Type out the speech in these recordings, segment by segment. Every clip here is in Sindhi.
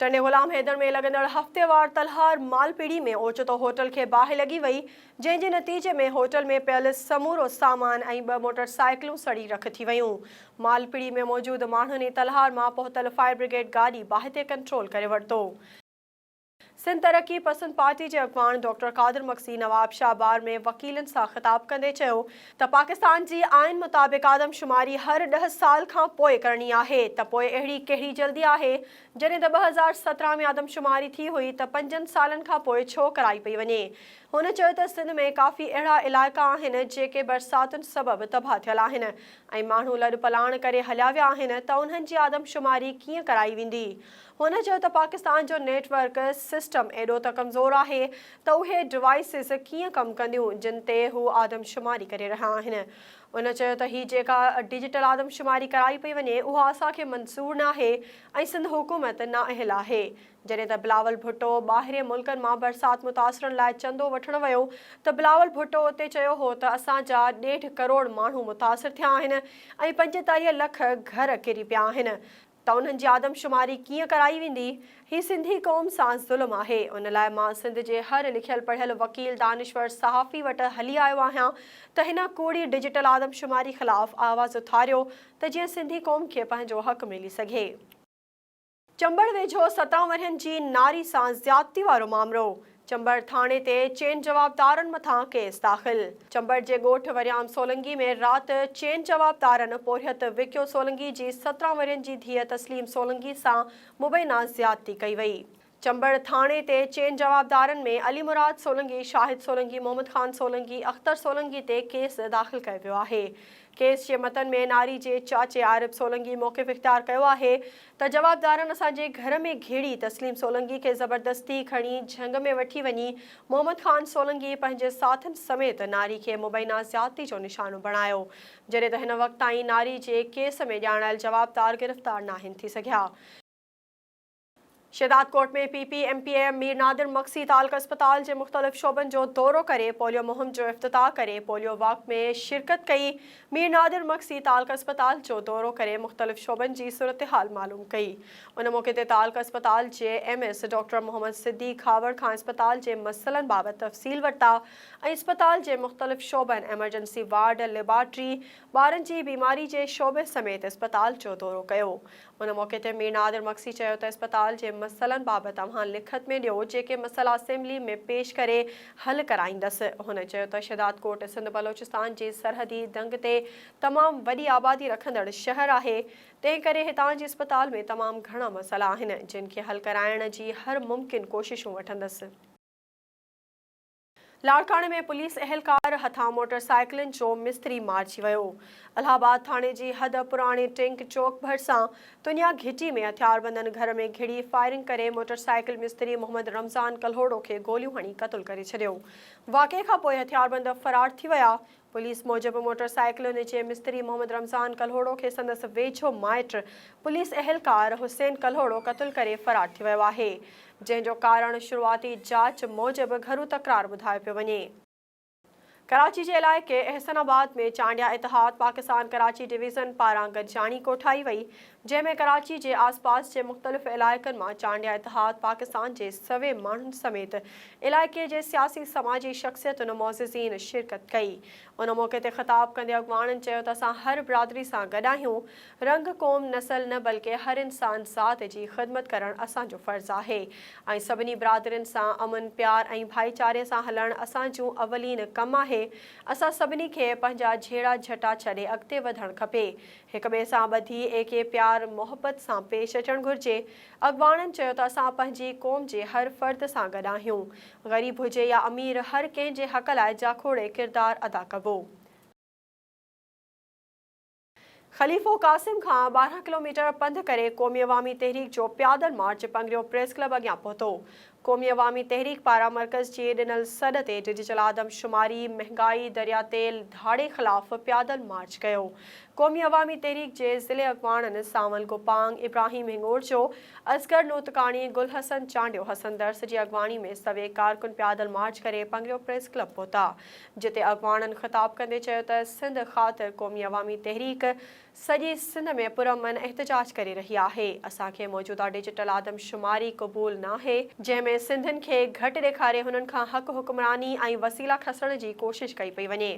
ٽنڊي غلام حيدر ۾ لڳندڙ هفتيوار تلهار مالپيڙهي ۾ اوچتو هوٽل کي باهه لڳي وئي، جنهن جي نتيجي ۾ هوٽل ۾ پيل سمورو سامان ۽ ٻه موٽر سائيڪلون سڙي رک ٿي ويون. مالپيڙهي ۾ موجود ماڻهن ئي تلهار مان پهتل فائر برگيڊ گاڏي باهه تي ڪنٽرول ڪري ورتو. سنڌ ترقي پسند پارٽي جي اڳواڻ ڊاڪٽر قادر مگسي نواب شاهه بار ۾ وڪيلن سان خطاب ڪندي چيو ته پاڪستان جي آئين مطابق آدم شماري هر ڏهه سال کان پوء ڪرڻي آهي ته پوء اهڙي ڪهڙي جلدي آهي جڏهن ته ٻه هزار سترهن ۾ آدم شماري ٿي هئي ته پنجن سالن کان پوء ڇو ڪرائي پئي وڃي هن چيو ته سنڌ ۾ ڪافي اهڙا علائقا آهن جيڪي برساتن سبب تباهه ٿيل آهن ۽ ماڻهو لڏپلاڻ ڪري هليا ويا آهن ته انهن جي آدم شماري ڪيئن ڪرائي ويندي هن چيو ته پاڪستان جو نيٽ ورڪ سسٽم ايڏو ته ڪمزور آهي ته اهي ڊوائيسز ڪيئن ڪم ڪنديون جن تي هو آدمشماري ڪري رهيا آهن. هن چيو ته هي جيڪا ڊجيٽل آدمشماري ڪرائي پئي وڃي اها اسان کي منظور ناهي ۽ سنڌ حڪومت نااهل آهي. جڏهن ته بلاول ڀٽو ٻاهرين ملڪن مان برسات متاثرن لاء چندو وٺڻ ويو ته بلاول ڀٽو اتي چيو هو ته اسان جا ڏيڍ ڪروڙ ماڻهو متاثر ٿيا آهن ۽ پنجيتاليهه لک گهر ڪري پيا آهن. ته انهن جي آدمشماري ڪيئن ڪرائي ويندي؟ هي سنڌي قوم سان ظلم آهي. ان لاء مان سنڌ جي هر لکيل پڙهيل وڪيل، دانشور، صحافي وٽ هلي آيو آهيان ته هن ڪوڙي ڊجيٽل آدمشماري خلاف آواز اٿاريو ته جيئن سنڌي قوم کي پنهنجو حق ملي سگهي. چمبڙ ويجهو ستان ورهين جي ناري سان زيادتي وارو مامرو. چمبڙ ٿاڻي تي چئن جوابدارن مٿان ڪيس داخل چمبڙ جي ڳوٺ وريام سولنگي ۾ رات چئن جوابدارن پورهيت وڪيو سولنگي جي سترهن ورهين جي ڌيء تسليم سولنگي سان مبينا زيادتي ڪئي وئي. چمبڙ ٿاڻي تي چئن جوابدارن ۾ علي مراد سولنگي، شاهد سولنگي، محمد خان سولنگي، اختر سولنگي تي ڪيس داخل ڪيو ويو آهي. ڪيس جي متن ۾ ناري جي چاچي عارب سولنگي موقف اختيار ڪيو آهي. ته جوابدارن اسان جي گهر ۾ گهيڙي تسليم سولنگي کي زبردستي کڻي جهنگ ۾ وٺي وڃي محمد خان سولنگي پنهنجي ساٿين سميت ناري کي مبينا زيادتي جو نشانو بڻايو جڏهن ته هن وقت تائين ناري جي ڪيس ۾ ڄاڻايل جوابدار گرفتار ناهن ٿي سگهيا. Shahdadkot ۾ P P M P M Mir Nadir Magsi تعلقه اسپتال جي مختلف شعبن جو دورو ڪري پوليو مهم جو افتتاح ڪري پوليو واڪ ۾ شرڪت ڪئي مير نادر مڪ سي تعلقه اسپتال جو دورو ڪري مختلف شعبن جي صورتحال معلوم ڪئي. ان موقعي تي تعلقه اسپتال جي M S doctor Muhammad Siddique Khahawar کان اسپتال جي مسئلن بابت تفصيل ورتا ۽ اسپتال جي مختلف شعبن ايمرجنسي وارڊ، ليبارٽري، ٻارن جي بيماري جي شعبي سميت اسپتال جو دورو ڪيو. ان موقعي تي مير نادر مگسي چيو ته اسپتال جي مسئلن بابت اوهان لکت ۾ ڏيو، جيڪي مسئلا اسيمبلي ۾ پيش ڪري حل ڪرائيندس. هن چيو ته شهدادڪوٽ سنڌ بلوچستان جي سرحدي دنگ تي تمام وڏي آبادي رکندڙ شهر آهي، تنهن ڪري هتان جي اسپتال ۾ تمام گهڻا مسئلا آهن، جن کي حل ڪرائڻ جي هر ممڪن ڪوششون وٺندس. لاڙڪاڻي ۾ پوليس اهلڪار هٿان موٽر سائيڪلن جو مستري مارجي ويو. الهه آباد ٿاڻي جي حد پراڻي ٽينڪ چوڪ ڀرسان تنيا گهٽي ۾ هٿياربندن گهر ۾ گهڙي فائرنگ ڪري موٽر سائيڪل مستري محمد رمضان ڪلهوڙو کي گوليون هڻي قتل ڪري ڇڏيو. واقعي کانپوء هٿياربند فرار ٿي ويا. پوليس موجب موٽر سائيڪلن جي مستري محمد رمضان ڪلهوڙو کي سندس ويجهو مائٽ پوليس اهلڪار حسين ڪلهوڙو قتل ڪري فرار ٿي ويو آهي جنهن جو ڪارڻ شروعاتي جاچ موجب گهرو تڪرار ٻڌايو پيو وڃي. ڪراچي جي علائقي احسن آباد ۾ چانڊيا اتحاد پاڪستان ڪراچي ڊويزن پاران گڏجاڻي ڪوٺائي وئي جنهن ۾ ڪراچي جي آس پاس جي مختلف علائقن مان چانڊيا اتحاد پاڪستان جي سوين ماڻهن سميت علائقي جي سياسي سماجي شخصيتن معززين شرڪت ڪئي ان موقعي تي خطاب ڪندي اڳواڻن چيو ته اسان هر برادري سان گڏ آهيون رنگ قوم نسل نه بلڪه هر انسان ذات جي خدمت ڪرڻ اسان جو فرض آهي ۽ سڀني برادرين سان امن پيار ۽ ڀائيچاري سان هلڻ اسان جون اولين ڪم آهي اسان سڀني کي پنهنجا جهيڙا جهٽا ڇڏي اڳتي وڌڻ کپي هڪ ٻئي سان ٻڌي ايڪي پيار محبت سان پيش اچڻ گهرجي، اڳواڻن چيو ته اسان پنهنجي قوم جي هر فرد سان گڏ آهيون، غريب هجي يا امير هر ڪنهن جي حق لاء جاکوڙي ڪردار ادا ڪبو. خليفو قاسم کان ٻارهن ڪلوميٽر پنڌ ڪري قومي عوامي تحريڪ جو پيادل مارچ پنگريو پريس ڪلب اڳيان پهتو، قومي عوامي تحريڪ پاران مرڪز جي ڏنل سڏ تي ڊجيٽل آدم شماري، مهنگائي، دريا تيل ڌاڙي خلاف پيادل مارچ ڪيو. قومي عوامي تحريڪ جي ضلعي اڳواڻن سانول گوپانگ، ابراهيم هنڱورچو، اصغر نوتڪاڻي، گل حسن چانڊيو، حسن درس جي اڳواڻي ۾ سوين ڪارڪن پيادل مارچ ڪري پنگريو پريس ڪلب پهتا جتي اڳواڻن خطاب ڪندي چيو ته سنڌ خاطر قومي عوامي تحريڪ سڄي سنڌ ۾ پرامن احتجاج ڪري رهي آهي، اسان کي موجوده ڊجيٽل آدمشماري قبول ناهي، جنهن ۾ سنڌين کي گهٽ ڏيکاري هنن کان حق حڪمراني ۽ وسيلا کسڻ جي ڪوشش ڪئي پئي وڃي.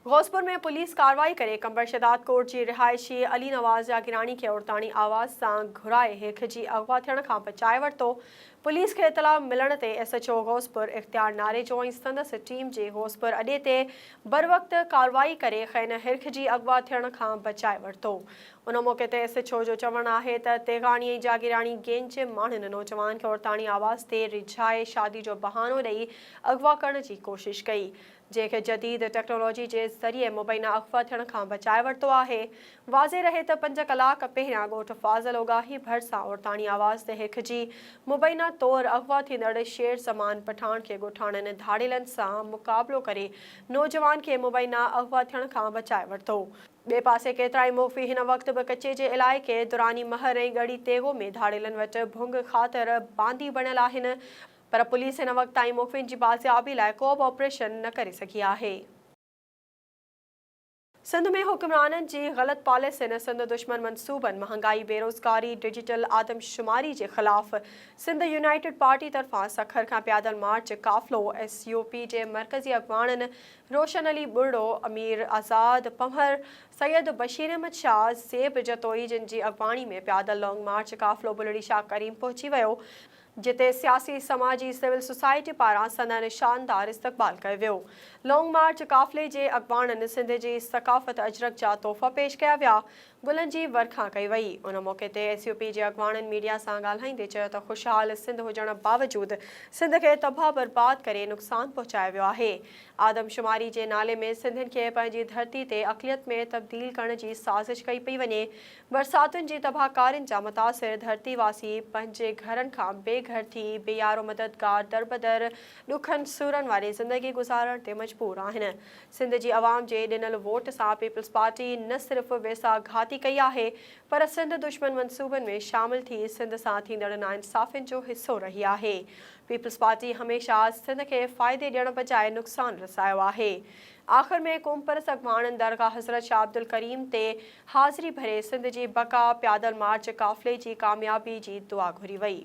غوثپور ۾ پوليس ڪارروائي ڪري قمبر شهداد ڪوٽ جي رهائشي علي نواز جاگيراڻي کي عورتاڻي آواز سان گهرائي هيک جي اغوا ٿيڻ کان بچائي ورتو، پوليس کي اطلاع ملڻ تي S H O Ghauspur Ikhtiar Narejo ۽ سندس ٽيم جي غوثپور اڏي تي بروقت ڪارروائي ڪري خين هرک جي اغوا ٿيڻ کان بچائي ورتو ان موقعي تي ايس ايڇ او جو چوڻ آهي ته تيغاڻي ۽ جاگيراڻي گينگ جي ماڻهن نوجوان کي عورتاڻي آواز تي ريجهائي شادي جو بهانو ڏئي اغوا ڪرڻ جي ڪوشش ڪئي جنهن کي جديد ٽيڪنالاجي جي ذريعي مبينا اغوا ٿيڻ کان بچائي ورتو آهي. واضح رهي ته پنج ڪلاڪ پهريان ڳوٺ فاضل اوڳاهي ڀر سان عورتاڻي آواز تي هيکجي مبينا طور اغوا ٿيندڙ شير زمان پٺاڻ کي ڳوٺاڻن ڌاڙيلن سان مقابلو ڪري نوجوان کي مبينا اغوا ٿيڻ کان بچائي ورتو. ٻئي پاسي ڪيترائي مغوي هن وقت به ڪچي جي علائقي دراني مهر ۽ ڳڙهي تيغو ۾ ڌاڙيلن وٽ ڀونگ خاطر باندي بڻيل آهن. پر پوليس هن وقت تائين مخفين جي بازيابي لاء ڪو به آپريشن نه ڪري سگهي آهي. سنڌ ۾ حڪمرانن جي غلط پاليسين، سنڌ دشمن منصوبن، مهانگائي، بيروزگاري، ڊجيٽل آدمشماري جي خلاف سنڌ يونائيٽيڊ پارٽي طرفان سکر کان پيادل مارچ قافلو، ايس يو پي جي مرڪزي اڳواڻن روشن علي ٻرڙو، امير آزاد پنهور، سيد بشير احمد شاهه، زيب جتوئي جن جي اڳواڻي ۾ پيادل لانگ مارچ قافلو بلڙي شاهه ڪريم پهچي ويو. جتي سياسي، سماجي، سول سوسائٽي پاران سندن شاندار استقبال ڪيو ويو. لانگ مارچ قافلي جي اڳواڻن سنڌ جي ثقافت اجرڪ جا تحفا پيش ڪيا ويا، گلن جي ورکا ڪئي وئي. ان موقعي تي ايس يو پي جي اڳواڻن ميڊيا سان ڳالهائيندي چيو ته خوشحال سنڌ هجڻ باوجود سنڌ کي تباهه برباد ڪري نقصان پهچايو ويو آهي. آدمشماري جي نالي ۾ سنڌين کي پنهنجي ڌرتي تي اقليت ۾ تبديل ڪرڻ جي سازش ڪئي پئي وڃي. برساتن جي تباهڪارين جا متاثر ڌرتي واسي پنهنجي گهرن کان بي گهر ٿي، بي يارو مددگار دربدر ڏکن سورن واري زندگي گذارڻ تي مجبور آهن. سنڌ جي عوام جي ڏنل ووٽ سان پيپلز پارٽي نه صرف ويساهه گهاتي ڪئي آهي پر سنڌ دشمن منصوبن ۾ شامل ٿي سنڌ سان ٿيندڙ ناانصافين جو حصو رهي آهي. پيپلز پارٽي هميشه سنڌ کي فائدي ڏيڻ بجاء نقصان رسايو آهي. آخر ۾ قومپرست اڳواڻن درگاهه حضرت شاهه عبدالڪريم تي حاضري ڀري سنڌ جي بقا، پيادل مارچ قافلي جي ڪاميابي جي دعا گهري وئي.